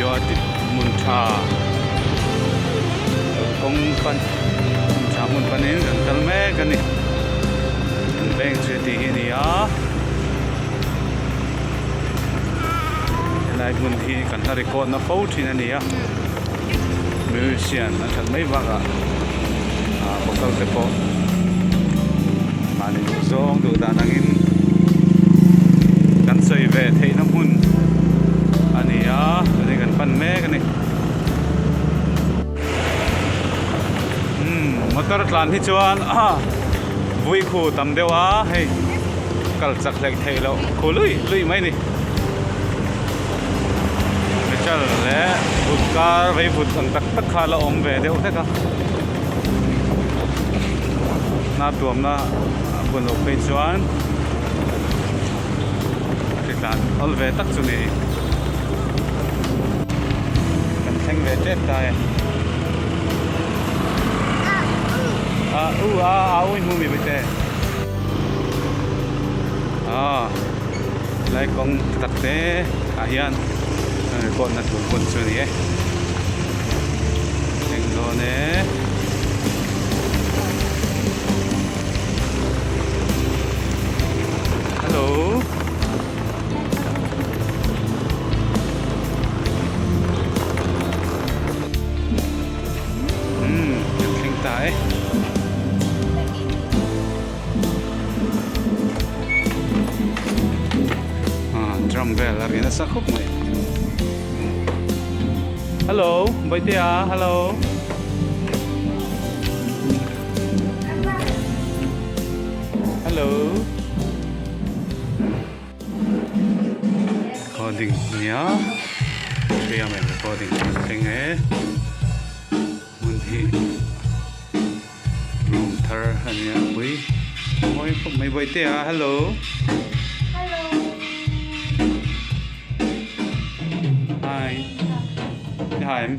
Yuatit hmun tha kawng pan hmun tha hmun panin kan kal mek a ni. Kan bank chu heti hi a ni a. Helai hmun hi kan hla record na fo thin a ni a. Musician an that mai vak a, hotel te pawh mahni duh zawng duh dan angin kan sawi ve theihna hmun a ni a, chuan in kan pan mek a ni. Umm motor tlan hi chuan vui khu tam deuh a, hei kal chak hlek theih loh khu luih luih mai a ni. Metal leh vut kar vei vut ang tak tak kha la awm ve deuh hlek a. Hna tuamna hun lo phei chuan ri tlan awlh ve tak chu ni. Kan thleng ve tep ta e. A u a a u i hmu mi Bawihtei? Aw. helai kawng tak te ah hian an record na tur pawn chu a ni e eng dawn e hello umm an thleng ta e. drum vel a ri nasa khawp mai hello baitea hello hello recording nia ria men recording thleng e mun hi Hnung thar a nia pui mawi khawp mai Bawitea hello hello hi hi em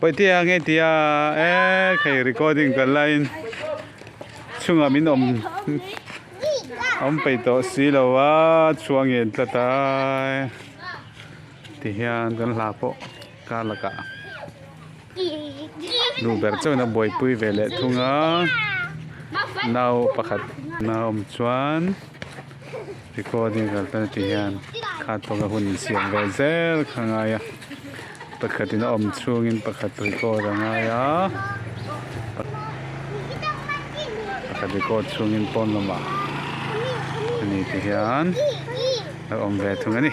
Pawitia nge tia eh khei recording ka la in chunga min awm awm pei tawh si lo a chua ngen tlat a ti hian kan hla pawh ka la ka. Nu ber chauhin a buaipui ve leh thung a, nau pakhat a awm chuan recording kal ta ti hian khat pawh ka hun insiam vel zel kha a ngai a, pakhatin a awm chhungin pakhat record a ngai a, pakhat record chhungin pawn lama a ni ti hian a awm ve thung a ni.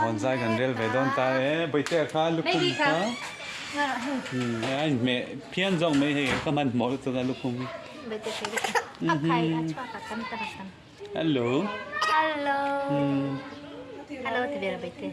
Hawnzai kan rel ve dawn ta e. Bawihtea kha lukhum kha a inhmeh phian zawk mai hei ka hman hmawlh lutuk a lukhum hi. Hello. Hello. Hello ti ve lo Bawihtea.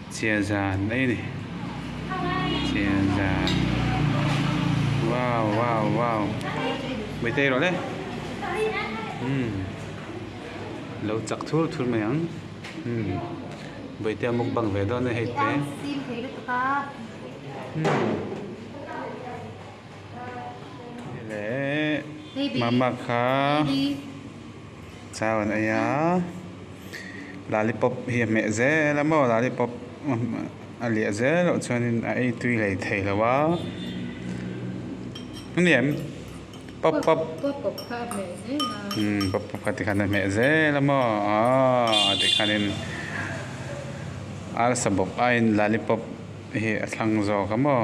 Chiazan mai ani chiazan wow wow wow meitei erawh le umm lo chak thur thur mai ang umm beite a mukbang ve dawn a ni hei te umm. mama kha chau an ei a lollipop hi a hmeh zel a maw lollipop a liah zel loh chuanin a ei tui lei thei lo va hemi an pop pop pop pop kha tikhan a hmeh zel a maw aw tikhanin arsa bawk aiin lollipop hi a thlang zawk a maw.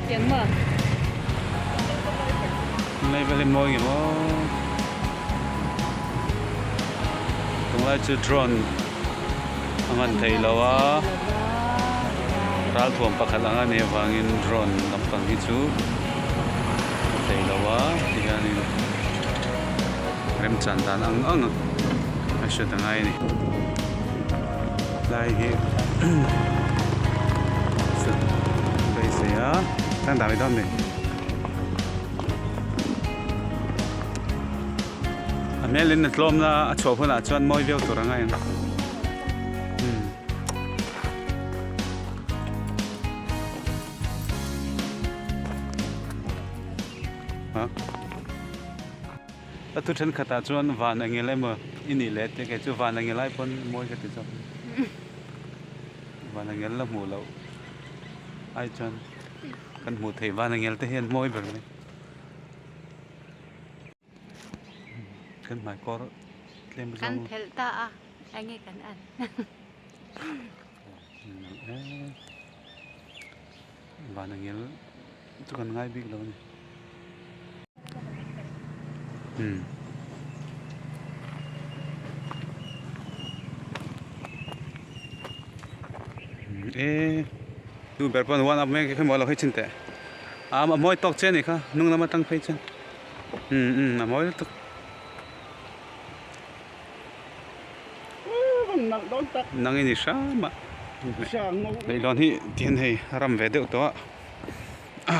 Leivel hi mawi ngemaw. Tunglai chu drone a nghan thei lo a. Ral thuam pakhat anga nei avangin drone lampang hi chu a thei lo a tihianin remchan dan ang ang a hriat angai a ni. Tlai hi sut phei se a tang dah mai dawn mai a hmel in a tlawm na a chhuah hun ah chuan mawi viau tur anga eng hmm. ha A thu thenkhatah chuan van a ngel emaw i nih leh tih kei chu van a ngel ai pawn mawi ka ti zawk a. Van a ngel la hmuh loh ai chuan kan hmuh theih van a ngel te hian mawi ber mai. Kan hmai kawr tlem zawk. Kan phelh ta a enge kan en. Vana ngil chu kan ngai bik lo ni. Umm. E tu ber pawh one up mai khi mawi lo hi chhin teh. A ma mawi tawk che ni kha hnung lam atang phei chuan. Umm umm a mawi lutuk. nangin i hram ah leihlawn hi tihian hei a ram ve deuh tawh a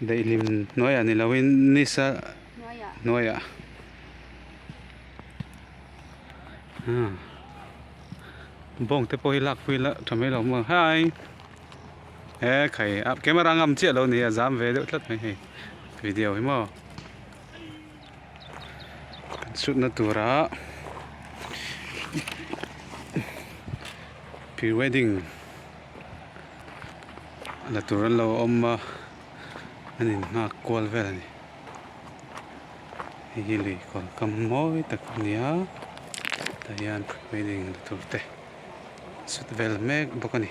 Daihlim hnuaiah ni loin Nisa hnuaiah ah bawng te pawh hi lak pui la tha mai lo maw hi he khai a camera ngam chiah lo ni a zam ve deuh tlat mai hei video hi maw kan chutna tura prewedding la tur an lo awm a an in nghak kual vel a ni hei hi lui kawr kam mawi tak a ni a tah hian building la tur te a sut vel mek bawk a ni.